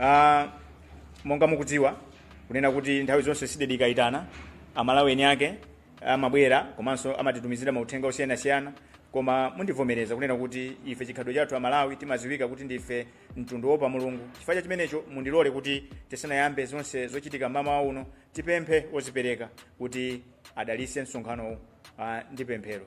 Ah, monga mukudziwa kunena kuti nthawi zonse cdedi ikayitana amalawi eni ake amabwera komanso amatitumizira mauthenga osiyanasiyana koma mundivomereza kunena kuti ife chikhalidwe chathu amalawi timaziwika kuti ndife mtundu woopa mulungu chifukwa cha chimenecho mundilole kuti tisanayambe zonse zochitika mmawa uno tipemphe ozipereka kuti adalise msonkhanowu ah, ndi pemphero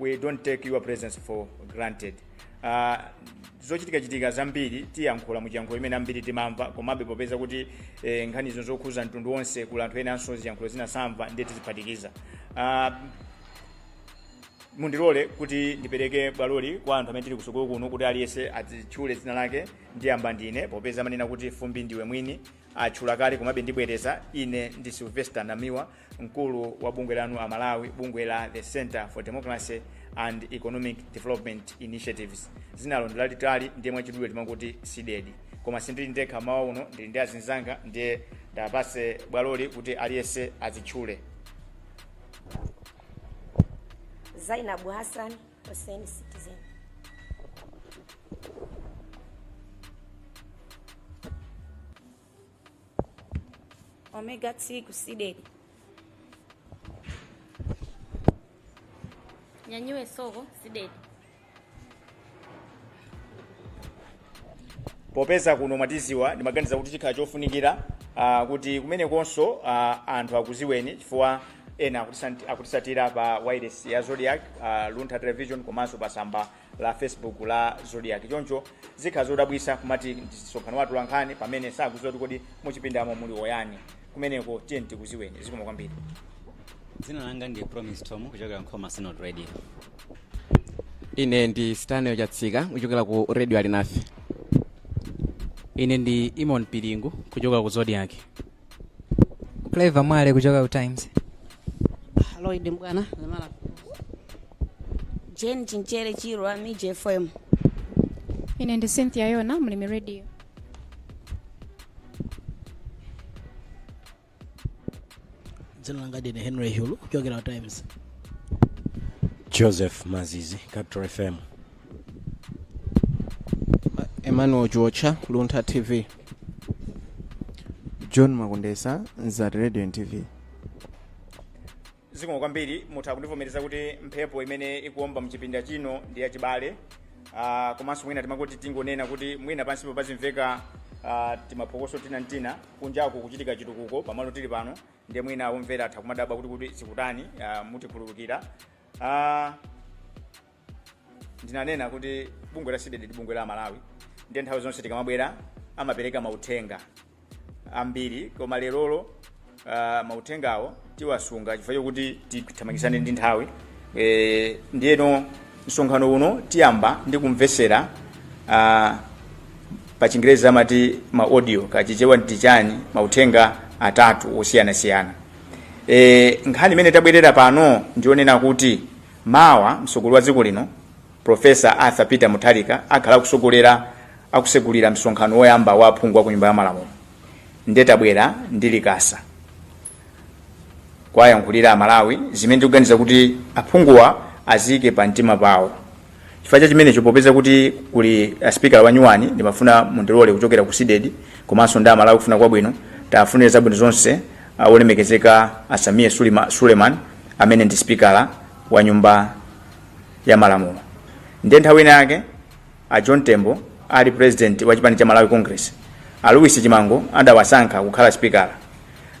we don't take your presence for granted uh, zochitikachitika zambiri tiyankhula muchiyankhulo chimene ambiri timamva komabe popeza kuti eh, nkhanizo zokhuza mtundu wonse kuli anthu enanso ziyankhulo zina samva ndiye tiziphatikiza uh, mundilole kuti ndipereke bwaloli kwa anthu amene tili kutsogolo kuno kuti aliyense azitchule dzina lake ndiyamba ndine popeza amanena kuti fumbi ndiwe mwini atchula kale komabe ndibwereza ine ndi sylvester namiwa mkulu wa bungwe lanu amalawi bungwe la the center for democracy and economic development initiatives dzinalo ndilalitali ndiye mwachidule timangoti cdedi koma sindili ndekha mmawa uno ndili ndi azinzanga ndiye ndiwapatse bwaloli kuti aliyense azitchule zainabu hassan Hussein Citizen. Omega T kusidedi. Nyanyue soko sidedi. popeza kuno mwatidziwa ndimaganiza kuti chikhala chofunikira uh, kuti kumenekonso uh, anthu akudziweni chifukwa ena akutisant- akutisatira pa wireless ya zodiak uh, luntha television komanso pa samba la facebook la zodiak choncho zikhala zodabwisa kumati msonkhano wa atolankhani pamene sakudziwa kuti kodi muchipindamo muli ayani kumeneko tiyeni tikudziweni zikomo kwambiri dzina langa ndi promise tom kuchokera nkhoma synod radio ine ndi stanley chatsika kuchokera ku radio alinafe ine ndi eamon piringu kuchokera ku zodiak clever mwale kuchoka ku times lloyd mbwana maravi jane chinchere chirwa mij fm ine ndi cynthia yona mlimi radio dzina langa ndine henry hulu kuchokera ku times joseph mazizi capital fm emmanuel georgia luntha tv john makundesa nzati radio and tv zikomo kwambiri mutha kundivomereza kuti mphepo imene ikuomba mchipinda chino ndi yachibale uh, komanso mwina timangoti tingonena kuti mwina pansipo pazimveka uh, timaphokoso tina ntina kunjaku kuchitika chitukuko pamalo tili pano ndiye mwina omvera atha kumadabwa kuti kodi zikutani uh, mutikhululukira uh, ndinanena kuti bungwe la cdedi ndi bungwe la amalawi ndiye nthawi zonse tikamabwera amapereka mauthenga ambiri koma lerolo uh, mauthengawo tiwasunga chifukwa chokuti tithamangitsane ndi nthawi e, ndiyeno msonkhano uno tiyamba ndi kumvetsera uh, pa chingerezi amati ma audio kachichewa ndi chani mauthenga atatu osiyanasiyana e, nkhani imene tabwerera pano ndi yonena kuti Mawa, mtsogoleri wa dziko lino Professor Arthur Peter Mutharika akhala akutsogolera akutsegulira msonkhano woyamba wa aphungu a ku nyumba ya malamulo. Nde tabwera ndi likasa kuwayankhulira Amalawi zimene tikuganiza kuti aphunguwa azike pa mtima pawo. Chifukwa cha chimenecho popeza kuti kuli a speaker wa nyuwani ndimafuna mundilole kuchokera ku CDEDI komanso ndi Amalawi akufuna kwabwino tiwafunire zabwino zonse a Olemekezeka a Sameer Sulima- Suleiman amene ndi sipikala wa nyumba ya malamulo ndiye nthawi ina yake a John Tembo ali president wa chipani cha Malawi Congress a Louis Chimango adawasankha kukhala sipikala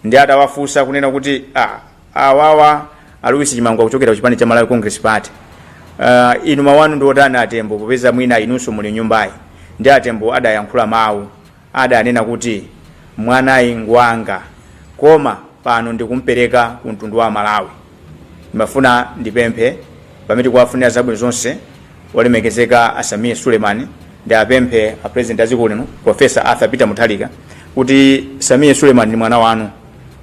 nde atawafunsa kunena kuti ah, awawa a Louis Chimango akuchokera ku chipani cha Malawi Congress Party uh, inu mawu anu ndi otani a Tembo popeza mwina inunso muli m'nyumbayi nde a Tembo adayankhula mawu adanena kuti mwanayu ngwanga koma pano ndikumpereka ku mtundu wa Malawi. Ndimafuna ndipemphe pamene tikuwafunira zabwino zonse olemekezeka a Sameer Suleiman ndiwapemphe a president a dziko lino Professor Arthur Peter Mutharika kuti Sameer Suleiman ndi mwana wanu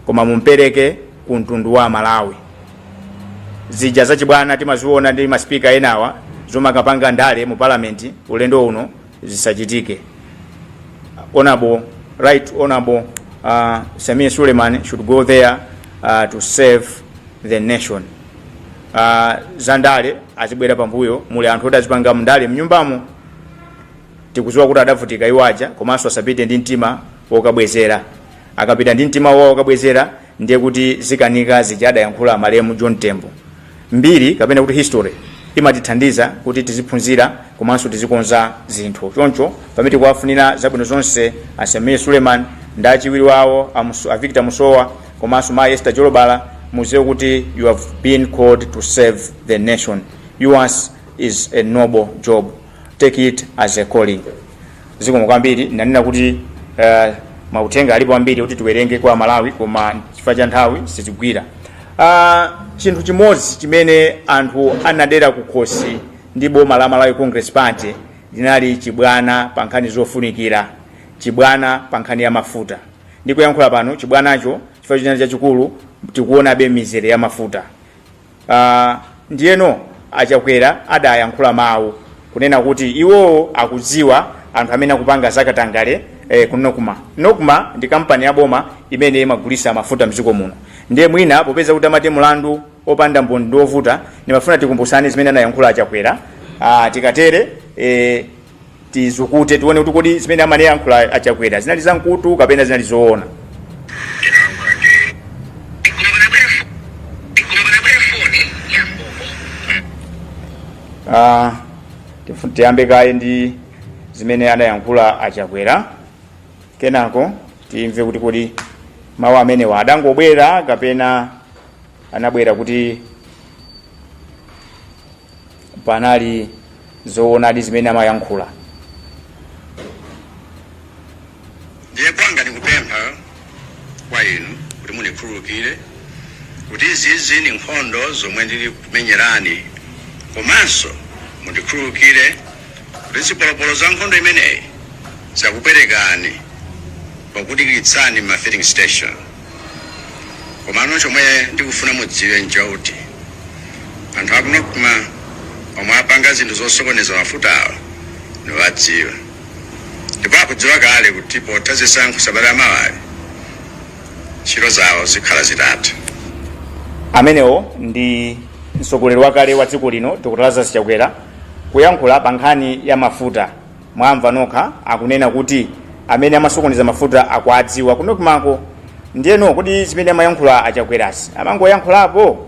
koma mumpereke ku mtundu wa Malawi. Zija zachibwana timaziona ndi masipika enawa zomakapanga ndale mu parliament ulendo uno zisachitike. Honorable, right honorable uh, Sameer Suleiman should go there uh, to serve the nation. Uh, za ndale azibwera pambuyo muli anthu oti azipanga ndale mnyumbamo tikudziwa kuti adavutika iwaja komanso asapite ndi mtima wokabwezera akapita ndi mtima wawo wokabwezera ndiye kuti zikanika zija adayankhula malemu john tembo mbiri kapena kuti history imatithandiza kuti tiziphunzira komanso tizikonza zinthu choncho pamene tikuwafunira zabwino zonse a sameer suleiman ndi achiwiri wawo a Muso- a victor musowa komanso mai esther jolobala mudziwe kuti you have been called to serve the nation yours is a noble job take it as a calling zikomo kwambiri ndanena kuti uh, mauthenga alipo ambiri kuti tiwerenge kwa amalawi koma chifukwa cha nthawi sitigwira uh, chinthu chimodzi chimene anthu anadera kukhosi ndi boma la malawi congress party linali chibwana pa nkhani zofunikira chibwana pa nkhani ya mafuta ndikuyankhula pano chibwanacho chifukwa chinali chachikulu tikuonabe mizere ya mafuta Uh, ndiyeno a Chakwera adayankhula mawu kunena kuti iwowo akudziwa anthu amene akupanga zakatangale eh, ku NOCMA NOCMA ndi kampani ya boma imene imagulitsa mafuta mdziko muno ndiye mwina popeza kuti amati mlandu opanda mboni ndi ovuta ndimafuna tikumbutsane zimene anayankhula a Chakwera uh, tikatere eh, tizukute tione kuti kodi zimene amayankhula a Chakwera zinali za mkutu kapena zinali zoona Ah, tifu- tiyambe kaye ndi zimene anayankhula a Chakwera kenako timve kuti kodi mawu amenewa adangobwera kapena anabwera kuti panali zoonadi zimene amayankhula ndiye kwanga ndikupempha kwa inu kuti mundikhululukire kuti izizi ni nkhondo zomwe ndili kumenyerani komanso mundikhululukire kuti zipolopolo za nkhondo imeneyi zakupwetekani pokudikiritsani ma filling station Komano chomwe ndikufuna mudziwe nchoti anthu aku Nocma omwe apanga zinthu zosokoneza mafutawa ndiwadziwa ndipo akudziwa kale kuti potha zisankho sabata yamawayi ntchito zawo zikhala zitatha. Amenewo ndi mtsogoleri wakale wa dziko lino Dr Lazarus Chakwera kuyankhula pa nkhani ya mafuta. Mwamva nokha akunena kuti amene amasokoneza mafuta akuwadziwa ku Nocma ko. Ndiyeno kodi zimene amayankhula a Chakwerazi amangoyankhulapo?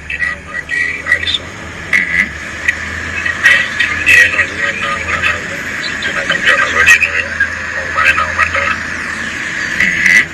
ndinayankhula ndi alison ndiyeno zimene ndinayankhula nazo zinakambirana zoti inuyo mukumane nawo mandala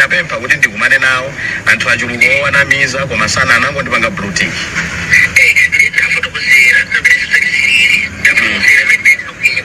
napempha kuti ndikumane nawo anthu achuluka owanamiza koma sana anangondipanga blue tick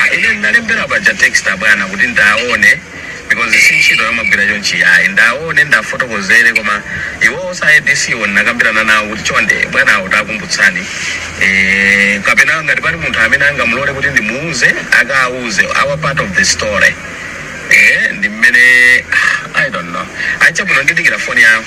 Ah, ine ndinalembera paja text abwana kuti ndaone because si ntchito yomagwira chonchi ayi ndaone ndafotokozere koma iwo osa ADC wo ndinakambirana nawo kuti chonde bwanawo takumbutsani eh, kapena ngati pali munthu amene angamulole kuti ndimuuze akauze our part of the story eh, ndi mmene ah, i don't know ah chabwino ndidikira foni yawo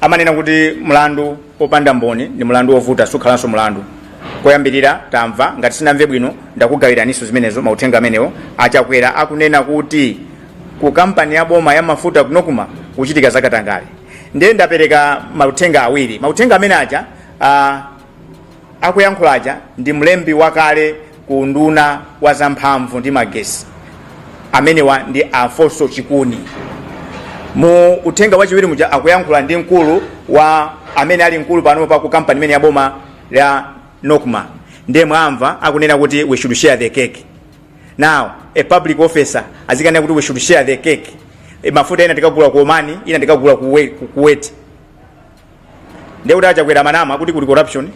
amanena kuti mlandu wopanda mboni ndi mlandu wovuta sukhalanso mlandu koyambirira tamva ngati sinamve bwino ndakugawiraninso zimenezo mauthenga amenewo a Chakwera akunena kuti ku kampani ya boma ya mafuta ku Nocma kuchitika zakatangale ndiye ndapereka mauthenga awiri mauthenga amene aja ah, akuyankhula aja ndi mlembi wakale ku unduna wa zamphamvu ndi magesi amenewa ndi alfonso chikuni mu uthenga wachiwiri muja akuyankhula ndi mkulu wa amene ali mkulu pano pa ku kampani imene ya boma ya nocma ndiye mwamva akunena kuti we should share the cake now a public officer azinena kuti we should share the cake e, mafuta ina tikagula ku oman ina tikagula ku We- ku kuwait ndiye kuti achakwera amanama kuti kuli corruption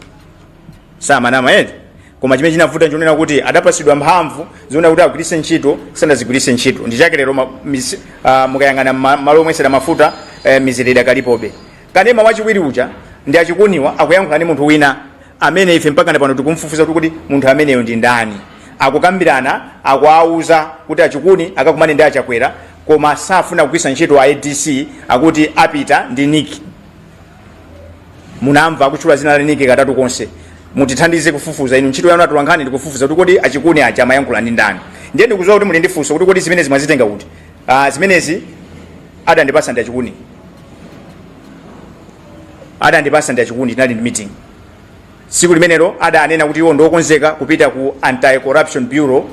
samanama eti koma chimene chinavuta nchonena kuti atapasidwa mphamvu zonena kuti agwiritse ntchito sanazigwiritse ntchito ndi chake lero ma- mis- ah, mukayang'ana ma- malo omwetsera mafuta eh, mizere idakalipobe kanema wachiwiri uja ndi achikuniwa akuyankhula ndi munthu wina amene ife mpaka na pano tikumfufuza kuti kuti munthu ameneyo ndi ndani akukambirana akuwauza kuti achikuni akakumane ndi achakwera koma safuna kugwiritsa ntchito a adc akuti apita ndi nick munamva akutchula zina la nick katatu konse mutithandize kufufuza inu ntchito yanu atolankhani ndikufufuza kuti kodi achikuni aja amayankhula ndi ndani ndiye ndikuziwa kuti muli ndi funso kuti kodi zimenezi mwazitenga kuti ah, zimenezi adandipasa ndi achikuni adandipasa ndi achikuni tinali ndi meeting Tsiku limenelo adanena kuti iwo ndi okonzeka kupita ku Anti-Corruption Bureau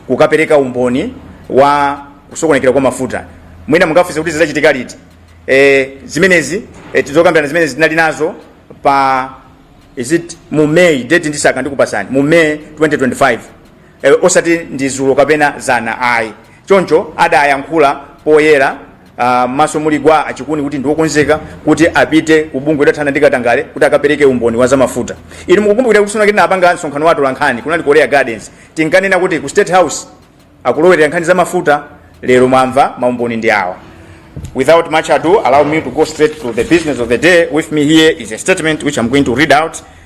kukapereka umboni wa kusokonekera kwa mafuta. Mwina mungafunse kuti zidachitika liti? E, zimenezi e, zokambirana zimenezi tinali nazo pa is it mu May date ndisaka ndikupasani mu May 2025 e, osati dzulo kapena dzana ayi choncho adayankhula poyera ah, maso muli gwa achikuni kuti ndiokonzeka kuti apite ku bungwe lothana ndi katangale kuti akapereke umboni wa zamafuta inu mukukumbukira kuti tsiku lina tinapanga msonkhano wa atolankhani kunali ku korea gardens tinkanena kuti ku state house akulowerera nkhani zamafuta lero mwamva maumboni ndi awa Without much ado, allow me to go straight to the business of the day. With me here is a statement which I'm going to read out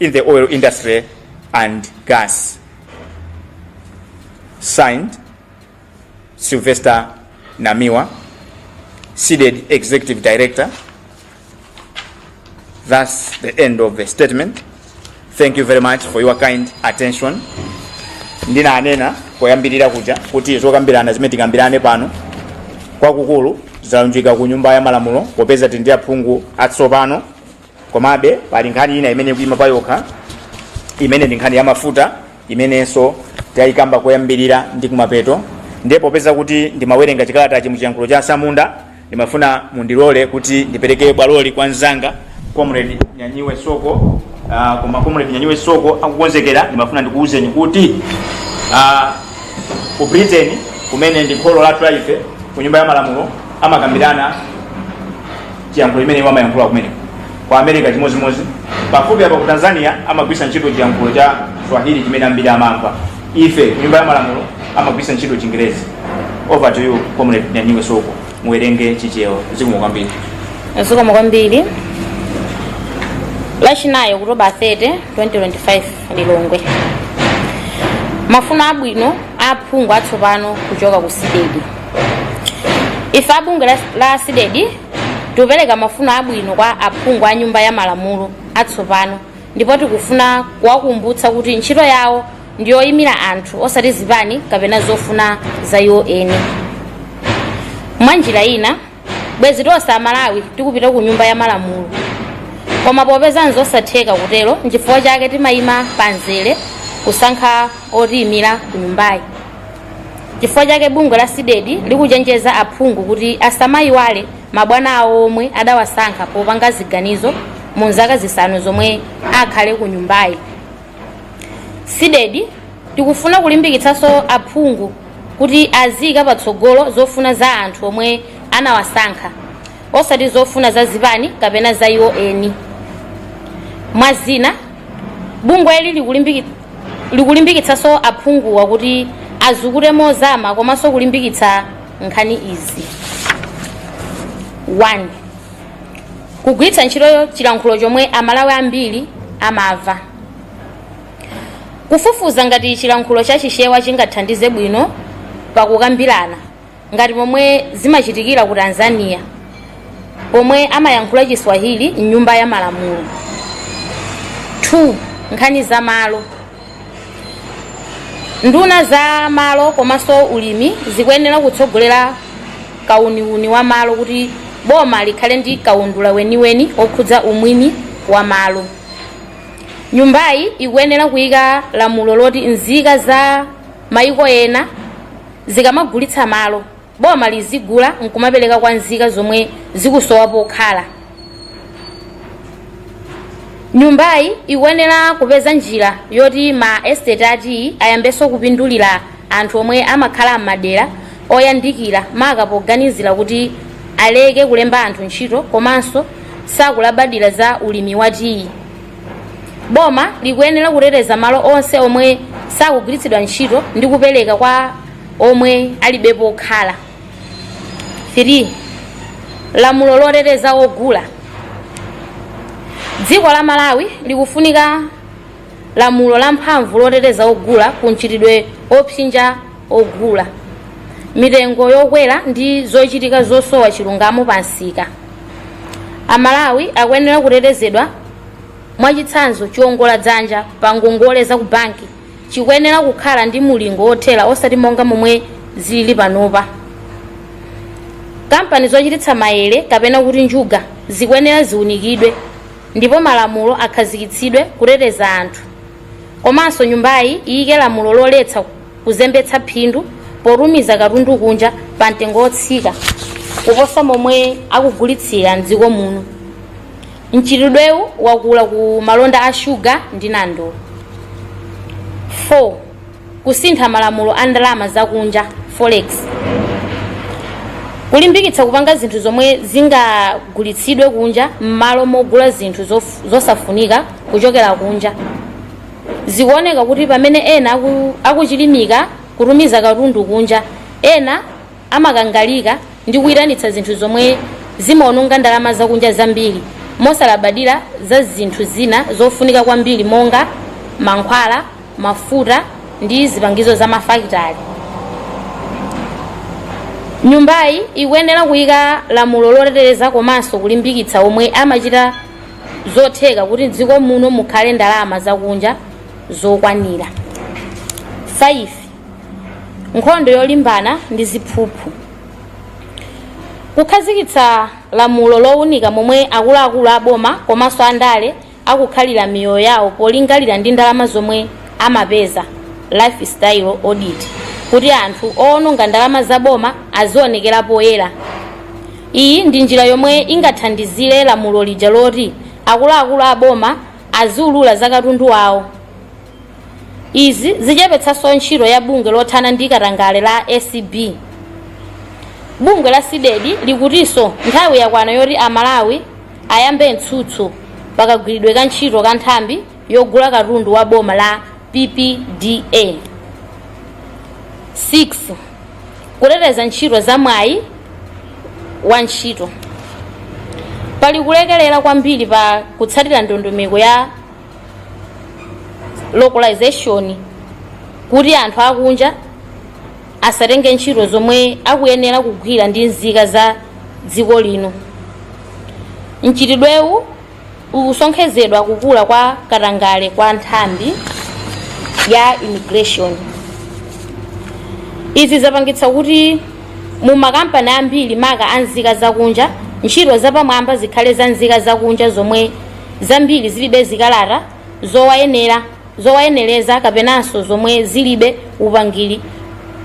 in the oil industry and gas. Signed, Sylvester Namiwa, CDEDI executive director. That's the end of the statement. Thank you very much for your kind attention. ndinanena poyambirira kuja kuti zokambirana zimene tikambirane pano kwakukulu zalunjika ku nyumba ya malamulo popeza tili ndi aphungu atsopano komabe pali nkhani ina imene ikuima pa yokha imene ndi nkhani ya mafuta imenenso tayikamba koyambirira ndi kumapeto ndiye popeza kuti ndimawerenga chikalatachi mu chiyankhulo cha asamunda ndimafuna mundilole kuti ndipereke bwaloli kwa mzanga comrade nyanyiwe soko uh, koma comrade nyanyiwe soko akukonzekera ndimafuna ndikuwuzeni kuti uh, ku britain kumene ndi kholo lathu la ife ku nyumba ya malamulo amakambirana chiyankhulo chimene iwo amayankhula kumeneko ku america chimodzimodzi pafupi apa ku tanzania amagwiritsa ntchito chiyankhulo cha swahili chimene ambiri amamva ife ku nyumba ya malamulo amagwiritsa ntchito chingerezi over to you comrade nyanyiwe soko muwerenge chichewa zikomo kwambiri zikomo kwambiri lachinayi okutoba 30 2025 lilongwe mafuno abwino aphungu atsopano kuchoka ku CDEDI ife a bungwe la CDEDI tikupereka mafuno abwino kwa aphungu a nyumba ya malamulo atsopano ndipo tikufuna kuwakumbutsa kuti ntchito yawo ndi yoyimira anthu osati zipani kapena zofuna za iwo eni mwa njira ina bwezi tonse amalawi tikupita ku nyumba ya malamulo koma popeza nzosatheka kutero nchifukwa chake timayima pamzere kusankha otiyimira ku nyumbayi chifukwa chake bungwe la CDEDI likuchenjeza aphungu kuti asamayiwale mabwana awo omwe adawasankha popanga ziganizo mu zaka zisanu zomwe akhale ku nyumbayi CDEDI tikufuna kulimbikitsanso aphungu kuti aziika patsogolo zofuna za anthu omwe anawasankha osati zofuna za zipani kapena za iwo eni mwa zina bungwe ili likulimbikitsanso aphunguwa kuti azukute mozama komanso kulimbikitsa nkhani izi 1 kugwiritsa ntchito chilankhulo chomwe amalawi ambiri amamva Kufufuza ngati chilankhulo cha Chichewa chingathandize bwino pa kukambirana ngati momwe zimachitikira ku Tanzania pomwe amayankhula Chiswahili m'nyumba ya malamulo. 2. Nkhani za malo. Nduna za malo komanso ulimi zikuyenera kutsogolera kauniuni wa malo kuti boma likhale ndi kaundula weniweni wokhudza umwini wa malo. nyumbayi ikuyenera kuyika lamulo loti nzika za mayiko ena zikamagulitsa malo boma lizigula nkumapereka kwa nzika zomwe zikusowa pokhala nyumbayi ikuyenera kupeza njira yoti ma estate a tiyi ayambenso kupindulira anthu omwe amakhala m'madera oyandikira maka poganizira kuti aleke kulemba anthu ntchito komanso sakulabadira za ulimi wa tiyi boma likuyenera kuteteza malo onse omwe sakugwiritsidwa ntchito ndi kupereka kwa omwe alibe pokhala 3 lamulo loteteza ogula dziko la malawi likufunika lamulo lamphamvu loteteza ogula ku mchitidwe opsinja ogula mitengo yokwera ndi zochitika zosowa chilungamo pa msika amalawi akuyenera kutetezedwa mwachitsanzo chiongola dzanja pa ngongole za ku banki chikuyenera kukhala ndi mulingo wothera osati monga momwe zili panopa kampani zochititsa mayere kapena kuti njuga zikuyenera ziunikidwe ndipo malamulo akhazikitsidwe kuteteza anthu komanso nyumbayi iyike lamulo loletsa kuzembetsa phindu potumiza katundu kunja pa mtengo wotsika kuposa momwe akugulitsira mdziko muno mchitidwewu wakula ku malonda a shuga ndi nandolo 4 kusintha malamulo a ndalama zakunja forex kulimbikitsa kupanga zinthu zomwe zingagulitsidwe kunja m'malo mogula zinthu zof- zosafunika kuchokera kunja zikuoneka kuti pamene ena aku- akuchilimika kutumiza katundu kunja ena amakangalika ndi kuitanitsa zinthu zomwe zimawononga ndalama zakunja zambiri mosalabadira za zinthu zina zofunika kwambiri monga mankhwala, mafuta, ndi zipangizo za mafakitale. Nyumbayi ikuyenera kuika lamulo loteteza komanso kulimbikitsa omwe amachita zotheka kuti m'dziko muno mukhale ndalama zakunja zokwanira. 5 nkhondo yolimbana ndi ziphuphu kukhazikitsa lamulo lowunika momwe akuluakulu aboma komanso andale akukhalira miyoyo yawo polingalira ndi ndalama zomwe amapeza lifestyle audit kuti anthu owononga ndalama za boma azionekera poyera iyi ndi njira yomwe ingathandizire lamulo lija loti akuluakulu aboma aziulula za katundu wawo Izi zichepetsanso ntchito ya bungwe lothana ndi katangale la acb. Bungwe la Cdedi likutinso nthawi yakwana yoti a Malawi ayambe mtsutso pa kagwiridwe ka ntchito ka nthambi yogula katundu wa boma la PPDA. 6. Kuteteza ntchito za mwayi wa ntchito. Pali kulekelera kwambiri pa kutsatira ndondomeko ya localization kuti anthu akunja asatenge ntchito zomwe akuyenera kugwira ndi nzika za dziko lino mchitidwewu ukusonkhezedwa kukula kwa katangale kwa nthambi ya immigration izi zapangitsa kuti mu makampani ambiri maka a nzika zakunja ntchito zapamwamba zikhale za nzika zakunja zomwe zambiri zilibe zikalata zowayenera zowayenereza kapenanso zomwe zilibe upangiri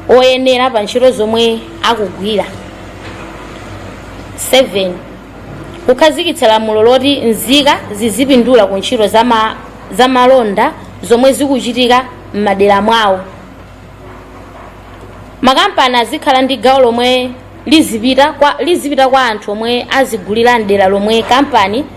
oyenera pa ntchito zomwe akugwira 7 kukhazikitsa lamulo loti nzika zizipindula ku ntchito za ma- za malonda zomwe zikuchitika m'madera mwawo makampani azikhala ndi gawo lomwe lizipita kwa, lizipita kwa anthu omwe azigulira mdera lomwe kampani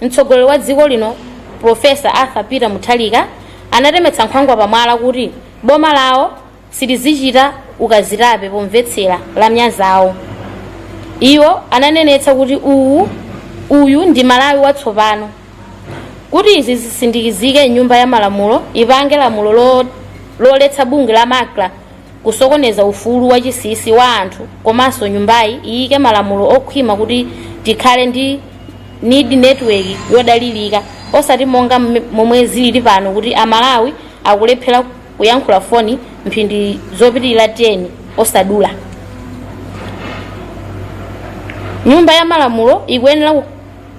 Mtsogoleri wa dziko lino Professor Arthur Peter Mutharika anatemetsa nkhwangwa pa mwala kuti boma lawo silizichita ukazitape pomvetsera lamya zawo. Iwo ananenetsa kuti uwu uyu ndi Malawi watsopano. Kuti izi zisindikizike nyumba ya malamulo ipange lamulo lo, loletsa bungwe la Macra kusokoneza ufulu wachinsinsi wa anthu komanso nyumbayi iyike malamulo okhwima kuti tikhale ndi need network yodalirika osati monga mme- momwe zilili pano kuti amalawi akulephera kuyankhula foni mphindi zopitirira 10 osadula nyumba ya malamulo ikuyenera ku-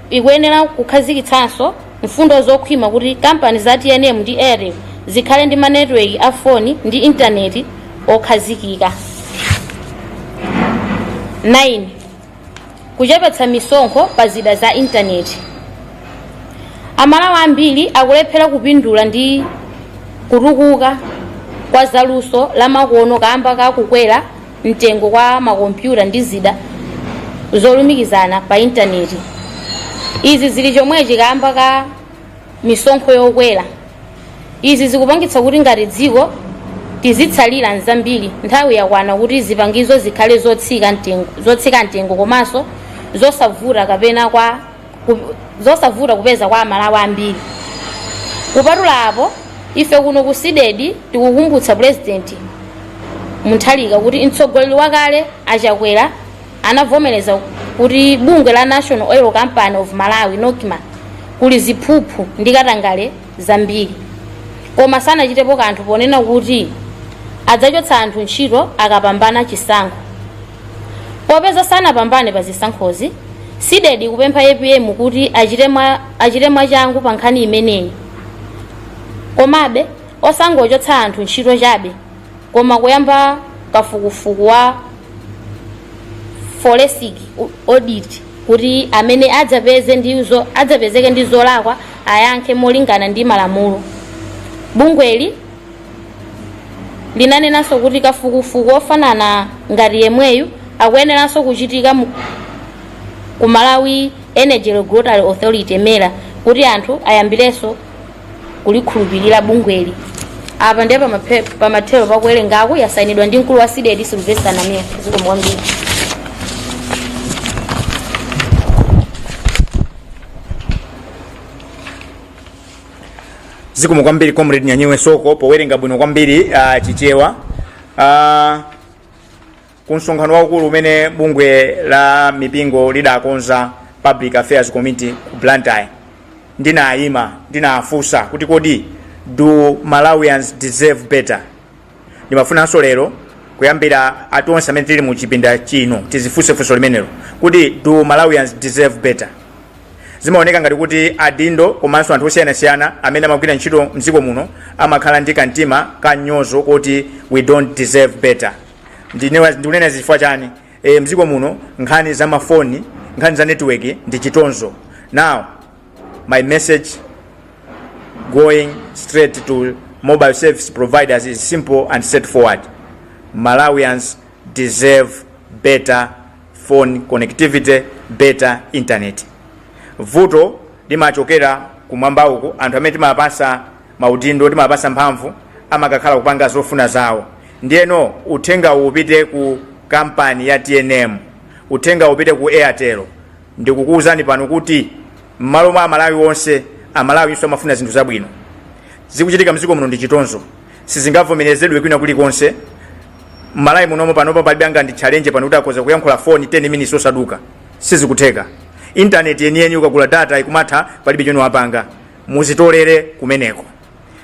ikuyenera kukhazikitsanso mfundo zokhwima kuti kampani za tnm ndi airtel zikhale ndi manetiweki a foni ndi intaneti okhazikika 9 kuchepetsa misonkho pa zida za intaneti amalawi ambiri akulephera kupindula ndi kutukuka kwa zaluso lamakono kamba ka kukwera mtengo kwa makompyuta ndi zida zolumikizana pa intaneti izi zili chomwechi kamba ka misonkho yokwera izi zikupangitsa kuti ngati dziko tizitsalira m'zambiri nthawi yakwana kuti zipangizo zikhale zotsika mtengo zotsika mtengo komanso zosavuta kapena kwa ku- zosavuta kupeza kwa amalawi ambiri kupatula apo ife kuno ku Cdedi tikukumbutsa pulezidenti Mutharika kuti mtsogoleri wakale a Chakwera anavomereza kuti bungwe la national oil company of malawi nocma kuli ziphuphu ndi katangale zambiri koma sanachitepo kanthu ponena kuti adzachotsa anthu ntchito akapambana chisankho Popeza sanapambane pa zisankhozi, Cdedi ikupempha apm kuti achite mwa achite mwachangu pa nkhani imeneyi. Komabe, osangochotsa anthu ntchito chabe, koma kuyamba kafukufuku wa forensic audit kuti amene adzapeze ndi zo- adzapezeke ndi zolakwa ayankhe molingana ndi malamulo. Bungweli linanenanso kuti kafukufuku wofanana ngati yemweyu akuyeneranso kuchitika mu- ku malawi energy regulatory authority mera kuti anthu ayambirenso kulikhulupirira bungweli apa ndiye pamaphe- pamathero pakuwerengaku yasayinidwa ndi mkulu wa cdedi silvester namiwa zikomo kwambiri zikomo kwambiri comrade nyanyiwe soko powerenga bwino kwambiri uh, chichewa uh, ku msonkhano waukulu umene bungwe la mipingo lidakonza public affairs committee ku blantyre ndinayima ndinafunsa kuti kodi do malawians deserve better ndimafunanso lero kuyambira a tonse amene tili mu chipinda chino tizifunse funso limenelo kuti do malawians deserve better zimaoneka ngati kuti adindo komanso anthu osiyanasiyana amene amagwira ntchito mdziko muno amakhala ndi kamtima ka mnyozo kuti we don't deserve better Ndine- ndikunena izi chifukwa chani e, mdziko muno nkhani za mafoni nkhani za netiweki ndi chitonzo now My message going straight to mobile service providers is simple and straightforward. Malawians deserve better phone connectivity, better internet. Vuto limachokera kumwamba uko anthu amene timapasa maudindo timapasa mphamvu amakakhala kupanga zofuna zawo ndiyeno uthengawu upite ku kampani ya tnm uthenga upite ku airtel ndikukuwuzani pano kuti m'malo mwa amalawi onse amalawi iwonso amafuna zinthu zabwino zikuchitika mdziko muno ndi chitonzo sizingavomerezedwe kwina kulikonse m'malawi munomo panopa palibe angandi challenge pano kuti akhoza kuyankhula foni 10 minutes osaduka sizikutheka intaneti yeniyeni ukagula data ikumatha palibe chomwe wapanga muzitolere kumeneko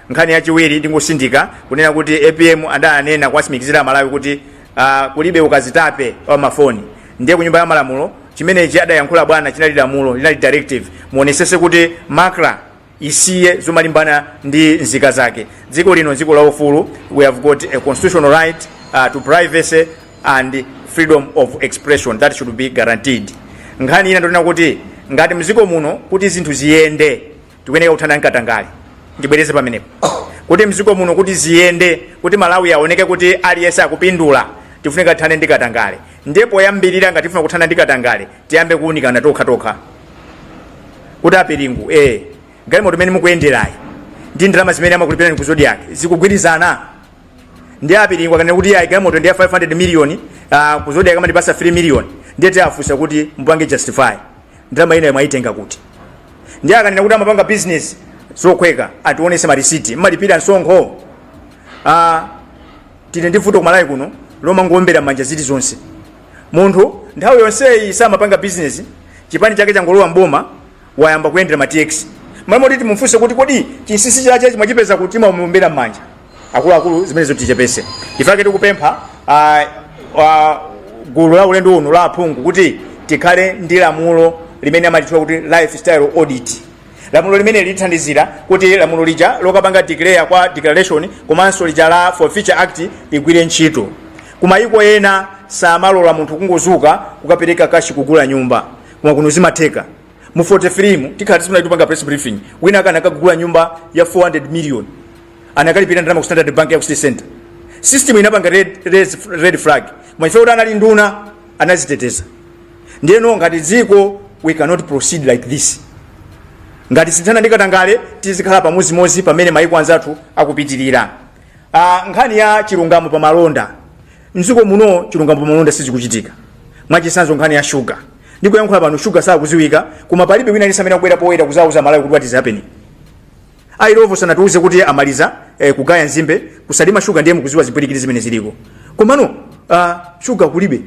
nkhani yachiwiri ndingosindika kunena kuti apm adanena kuwatsimikizira amalawi kuti uh, kulibe ukazitape wa mafoni ndiye kunyumba ya malamulo chimenechi adayankhula bwana chinali lamulo linali directive muonesese kuti macra isiye zomalimbana ndi nzika zake dziko lino dziko la ufulu we have got a constitutional right uh, to privacy and freedom of expression that should be guaranteed nkhani ina ndonena kuti ngati mziko muno kuti zinthu ziyende tikuyeneka kuthana ndi katangale ndibwereze pamenepo kuti mziko muno kuti ziyende kuti malawi aoneke kuti aliyense akupindula tifunika tithane ndi katangale ndiye poyambirira ngati tifuna kuthana ndi katangale tiyambe kuunikana tokha tokha kuti a chilungo eh galimoto imene mukuyenderayi ndi ndalama zimene amakulipirani ku zodiak zikugwirizana nde a chilungo akanena kuti ayi galimoto ndi ya 500 million uh, ku zodiak amandipasa 3 million ndiye tiafunsa kuti mupange justify ndalama ina mwaitenga kuti ndiye akanena kuti amapanga business zokhwekhwa atiwonese marisiti mmalipira msonkho ah, tili ndi vuto kumalawi kuno lomangowombera manja zili zonse munthu nthawi yonseyi samapanga business chipani chake changolowa mboma wayamba kuyendera ma tx mmalo moti timufunse kuti kodi chinsinsi chache mwachipeza kuti mmamuwombera manja akuluakulu zimenezo tichepese ife tikupempha ah, ah, gulu la ulendo uno la aphungu kuti tikhale ndi lamulo limene amalitcha kuti lifestyle audit lamulo limene lithandizira kuti lamulo lija lokapanga declare kwa declaration komanso lija la forfeiture act ligwire ntchito kumayiko ena samalola munthu kungozuka kukapereka kashi kugula nyumba koma kuno zimatheka mu 43 mu tikhala tisanayambe kupanga press briefing wina anakagula nyumba ya 400 million anakalipira ndalama ku standard bank ya ku city center system inapanga red, red, red flag koma chifukwa choti anali nduna anaziteteza ndiyeno ngati dziko we cannot proceed like this ngati sitithana ndi katangale tizikhala pamozimozi pamene maiko anzathu akupitirira uh, nkhani ya chilungamo pa malonda mdziko muno chilungamo pa malonda sizikuchitika mwachisanzo nkhani ya shuga ndikuyankhula pano shuga sakupezeka koma palibe wina aliyense amene akubwera poyera kuzauza amalawi kuti what is happening a illovo sanatiuze kuti amaliza eh, kugaya nzimbe ku salima shuga ndiye mukuziwa zipwirikiti zimene ziliko komano uh, shuga kulibe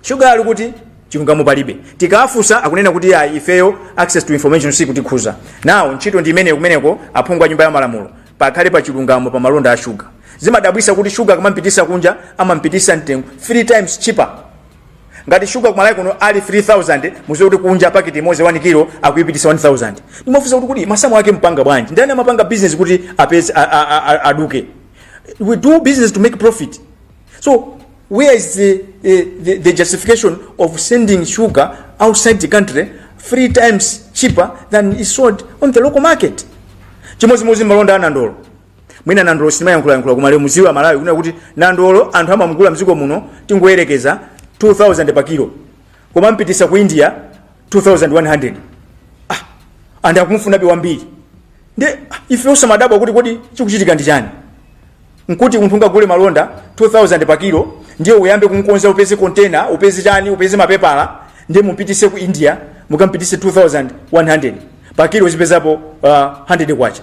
shuga ali kuti chilungamo palibe tikafusa akunena kuti ayi ifeyo access to information sikutikhuza now ntchito ndi imeneyo kumeneko aphungu a nyumba ya malamulo pakhale pa chilungamo pa malonda a shuga zimadabwisa kuti shuga akamampitisa kunja amampitisa pamtengo 3 times cheaper ngati shuga kumalawi kuno ali 3000 muziwe kuti kunja paketi imodzi 1 kilo akuyipitisa 1000 ndimafunsa kuti kodi masamu ake mpanga bwanji ndani amapanga business kuti apeze a- a- a- a- aluze we do business to make profit so where is the, eh, the, the justification of sending sugar outside the country three times cheaper than is sold on the local market chimodzimodzi malonda a nandolo mwina nandolo sitimayankhulayankhula koma lero muziwe amalawi kunena kuti nandolo anthu amamugula mdziko muno tingoyerekeza 2000 pa kilo koma amampitisa ku india 2100 ah, and akumufunabe wambiri nde ah, ife osamadabwa kuti kodi chikuchitika ndi chani nkuti munthu ungagule malonda 2000 pa kilo ndiye uyambe kumkonza upeze container upeze chani upeze mapepala ndiye mumpitise ku india mukampitise 2100 pa kilo nkupezapo uh, 100 kwacha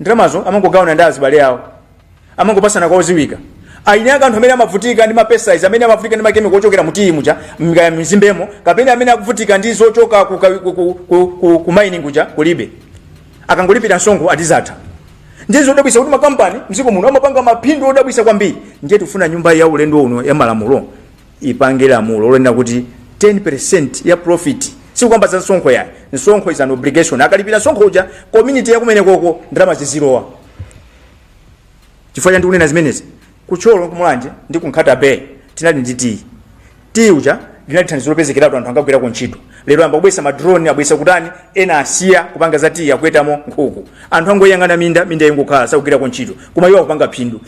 ndalamazo amangogawana ndi azibale awo amangopasana kwa oziwika eni ake anthu amene amavutika ndi ma pesticides amene amavutika ndi makemiko ochokera mu tiyi muja kaya mu nzimbemo kapena amene akuvutika ndi zochoka ku, ka- ku, ku, ku, ku, ku mining kuja kulibe akangolipira msonkho ati zatha ndi zodabwisa kuti makampani mdziko muno amapanga maphindu odabwisa kwambiri ndiye tifuna nyumba ya ulendo uno ya malamulo ipange lamulo lonena kuti 10% ya profit sikukamba za msonkho yayi msonkho is an obligation akalipira msonkho uja community yakumenekoko ndalama zizilowa chifukwa cha ndikunena zimenezi kuThyolo kuMulanje ndi kuNkhata Bay tinali ndi tiyi tiyi uja inali thandizo lopezekeratu anthu ankagwirako ntchito lero ayamba kubwesa madrone abwesa kutani ena asiya kupanga za tiyi akuwetamo nkhuku anthu angoyang'ana minda minda ikungokhala sakugwirako ntchito koma iwo akupanga phindu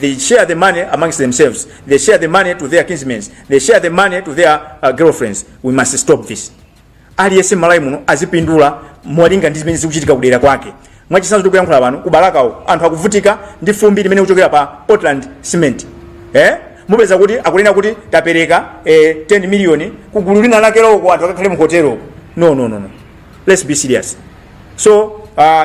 they share the money amongst themselves they share the money to their kinsmen they share the money to their uh, girlfriends we must stop this aliyense malawi muno azipindula molinga ndi zimene zikuchitika kudera kwake mwachitsanzo tikuyankhula pano kuBalakako anthu akuvutika ndi fumbi limene likuchokera pa portland cement eh? mupeza kuti akunena kuti tapereka eh, 10 miliyoni kugulu lina lake loko anthu akakhale mu hotelo no no no no let's be serious so uh,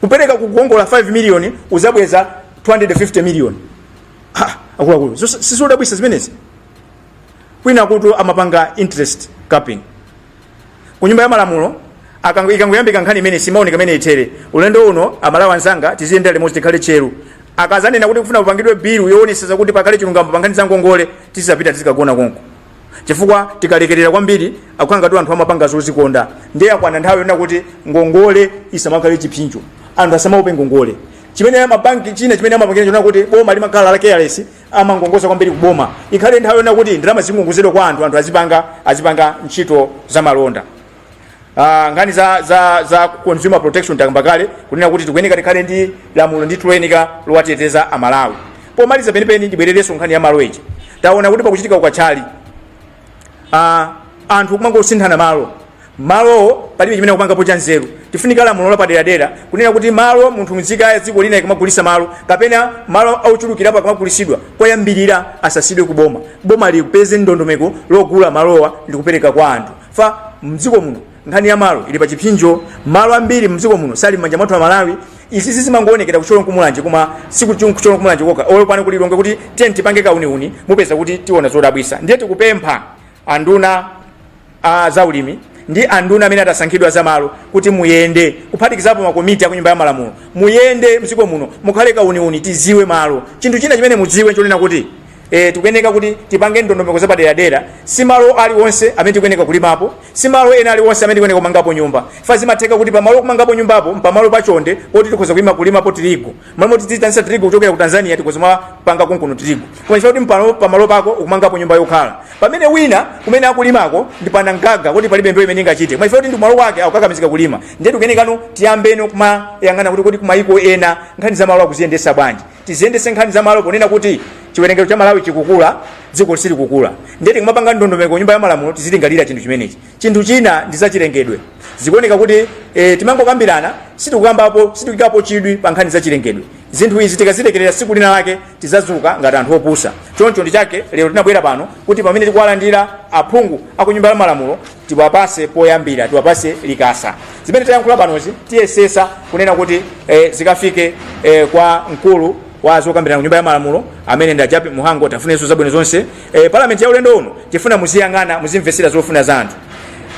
kupereka kukongola 5 million uzabweza 250 million ha akuluakulu Zos- sizodabwisa zimenezi kwinakutu amapanga interest capping ku nyumba ya malamulo akango- ikangoyambika nkhani imene simaoneka mmene ithere ulendo uno amalawi anzanga tiziyendera limodzi tikhale tcheru akazanena kuti akufuna kupangidwe bilu yoonetsetsa kuti pakhale chilungamo pa nkhani za ngongole tizapita tizikagona konko chifukwa tikalekerera kwambiri akukhala ngati anthu amapanga zozikonda ndiye yakwana nthawi yonena kuti ngongole isamakhale chipsinjo anthu asamaope ngongole chimene mabanki china chimene amapangira nchonena kuti boma limakhala la careless amakongoza kwambiri ku boma ikhale nthawi yonena kuti ndalama zizikongozedwa kwa anthu anthu azipanga azipanga ntchito za malonda Ah, nkhani za, za, za consumer protection takamba kale kunena kuti tikuyeneka tikhale ndi lamulo ndithu loyeneka lowateteza amalawi pomaliza penipeni ndibwererenso nkhani ya malo eji taona kuti pakuchitika ukachali ah, anthu kumangosinthana malo malowo palibe chimene akupangapo cha nzeru tifunika lamulo lapaderadera kunena kuti malo mmunthu mzika ya dziko lina ikamagulisa malo kapena malo ochulukirapo akamagulisidwa koyambirira asasidwe ku boma boma lipeze ndondomeko yogula malowa ndikupereka kwa anthu chifukwa mdziko muno nkhani ya malo ili pa chipsinjo malo ambiri mdziko muno sali m'manja mwathu a malawi izi zimangoonekera kuThyolo nkuMulanje koma sikuThyolo nkuMulanje kokha olo pano kuLilongwe kuti tiye tipange kauniuni mupeza kuti tiona zodabwisa ndiye tikupempha anduna a zaulimi ndi anduna amene atasankhidwe a za malo kuti muyende kuphatikizapo makomiti a kunyumba ya malamulo muyende mdziko muno mukhale nkauniuni tiziwe malo chinthu china chimene mudziwe nchonena kuti e, tikuyeneka kuti tipange ndondomeko zapaderadera si malo aliwonse amene tikuyeneka kulimapo si malo ena aliwonse amene tikuyeneka kumangapo nyumba chifukwa zimatheka kuti pamalo ukumangapo nyumbapo mpamalo pachonde poti tikhoza kulima kulimapo tirigu malo moti tiziitanisa tirigu kuchokera ku tanzania tikhoza kumapanga konkuno tirigu koma chifukwa kuti mpano- pamalo pako ukumangapo nyumba yokhala pamene wina kumene akulimako ndi panankhaka kuti palibe mbewu imene ingachite koma chifukwa kuti ndi malo wake akukakamizika kulima ndiye tikuyenekano tiyambeno kumayang'ana kuti kuti kumayiko ena nkhani za malo akuziyendesa bwanji tiziyendese nkhani za malo ponena kuti chiwerengero cha malawi chikukula dziko silikukula ndiye tikamapanga ndondomeko nyumba ya malamulo tizilingalira chinthu chimenechi chinthu china ndi zachilengedwe zikuoneka kuti e, timangokambirana sitikukambapo sitikuikapo chidwi pa nkhani za chilengedwe zinthu izi tikazilekerera siku lina lake tizazuka ngati anthu opusa choncho ndi chake lero tinabwera pano kuti pamene tikuwalandira aphungu akunyumba ya malamulo tiwapase poyambira tiwapase likasa zimene tayankhula panozi tiyesesa kunena kuti eh, zikafike eh, kwa mkulu wa zokambirana ku nyumba ya malamulo amene ndi a Jappie Mhango tiwafunirenso zabwino zonse eh, palamenti ya ulendo uno tifuna muziyang'ana muzimvesera zofuna za anthu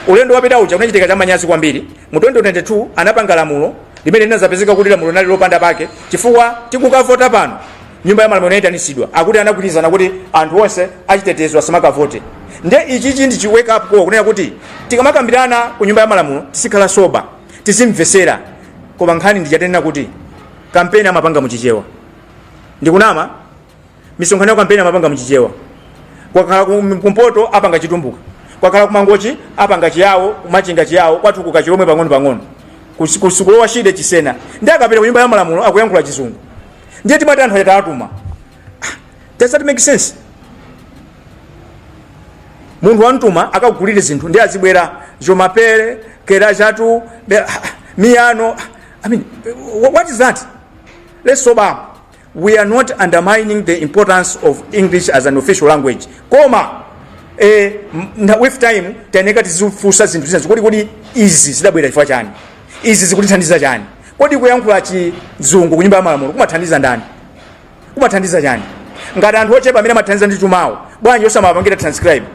ulendo wapita uja kunachitika cha manyazi kwambiri mu 2022 anapanga lamulo limene linazapezeka kuti lamulo linali lopanda pake chifukwa tikukavota pano Nyumba ya malamulo inaitanitsidwa akuti anagwirizana kuti anthu onse achitetezo asamakavote nde ichichi ndi chi wake up call kunena kuti tikamakambirana ku nyumba ya malamulo tizikhala sober tizimvetsera koma nkhani ndi ija tinanena kuti kampeni amapanga mu chichewa ndikunama misonkhano ya kampeni amapanga mu chichewa kwakhala kum- kumpoto apanga chitumbuka kwakhala kumangochi apanga chiyawo kumachinga chiyawo kwathu kuja chilomwe pang'ono pang'ono Kusi- kusi- ku Lower Shire chisena ndiye akapita ku nyumba ya malamulo akuyankhula chizungu ndiye timati anthu aja tawatuma Ah, does that make sense munthu wamtuma akagulire zinthu ndiye azibwera je m'appelle quel âge as-tu be- ah, miyano Ah, i mean wh- what is that let's sober up we are not undermining the importance of english as an official language koma eh, m- na- with time tayeneka tizifunsa zinthu zina zakuti kodi izi zidabwera chifukwa chani izi zikutithandiza chani kodi kuyankhula chizungu ku nyumba ya malamulo kumathandiza ndani kumathandiza chani ngati anthu ochepa amene amathandiza ndi chumawo bwanji osamapangira transcribe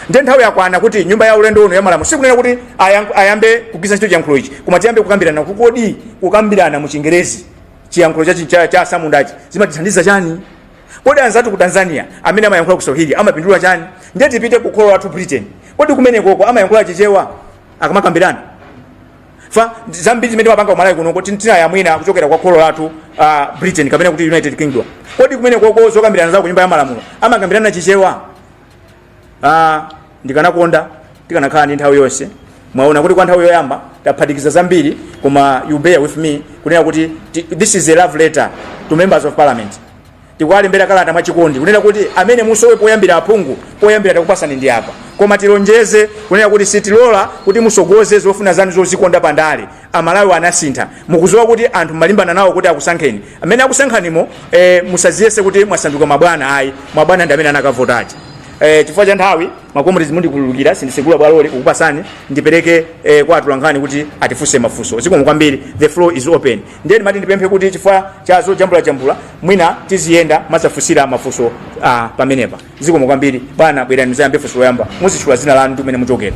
nde nthawi yakwana kuti nyumba ya ulendo uno ya malamulo sikunena kuti ayang- ayambe kugwiritsa ntchito chiyankhulo ichi koma tiyambe kukambirana kuti kodi kukambirana mu chingerezi chiyankhulo cha, cha, cha asamundachi zimatithandiza chani kodi anzathu ku tanzania amene amayankhula kiswahili amapindula chani ndiye tipite ku kholo lathu britain kodi kumenekoko amayankhula chichewa akamakambirana fa zambiri zimene timapanga kumalawi kuno kuti tinayamwina kuchokera kwa kholo lathu uh, britain kapena kuti united kingdom kodi kumenekoko zokambirana za ku nyumba ya malamulo amakambirana chichewa uh, ndikanakonda tikanakhala ndi nthawi yonse mwaona kuti kwa nthawi yoyamba taphatikiza zambiri koma you bear with me kunena kuti ti- this is a love letter to members of parliament Tikuwalembera kalata mwachikondi kunena kuti amene musowe poyambira aphungu poyambira takupasani ndi apa. Koma tilonjeze kunena kuti sitilola kuti musogoze zofuna zanu zozikonda pa ndale. Amalawi anasintha. Mukuziwa kuti anthu mumalimbana nawo kuti akusankheni. Mmene akusankhanimo eh, musaziyese kuti mwasanduka mabwana ayi. Mabwana ndi amene anakavota aja. Eh, chifukwa cha nthawi makomrezi mundikhululukira sindisegula bwaloli kukupasani ndipereke eh, kwa atolankhani kuti atifunse mafunso. Zikomo kwambiri. The floor is open. ndiye ndimati ndipemphe kuti chifukwa cha zojambulajambula mwina tiziyenda muzafunsira mafunso ah, pamenepa zikomo kwambiri bwana bwerani muzayambe funso loyamba muzitchula zina lanu ndi kumene muchokera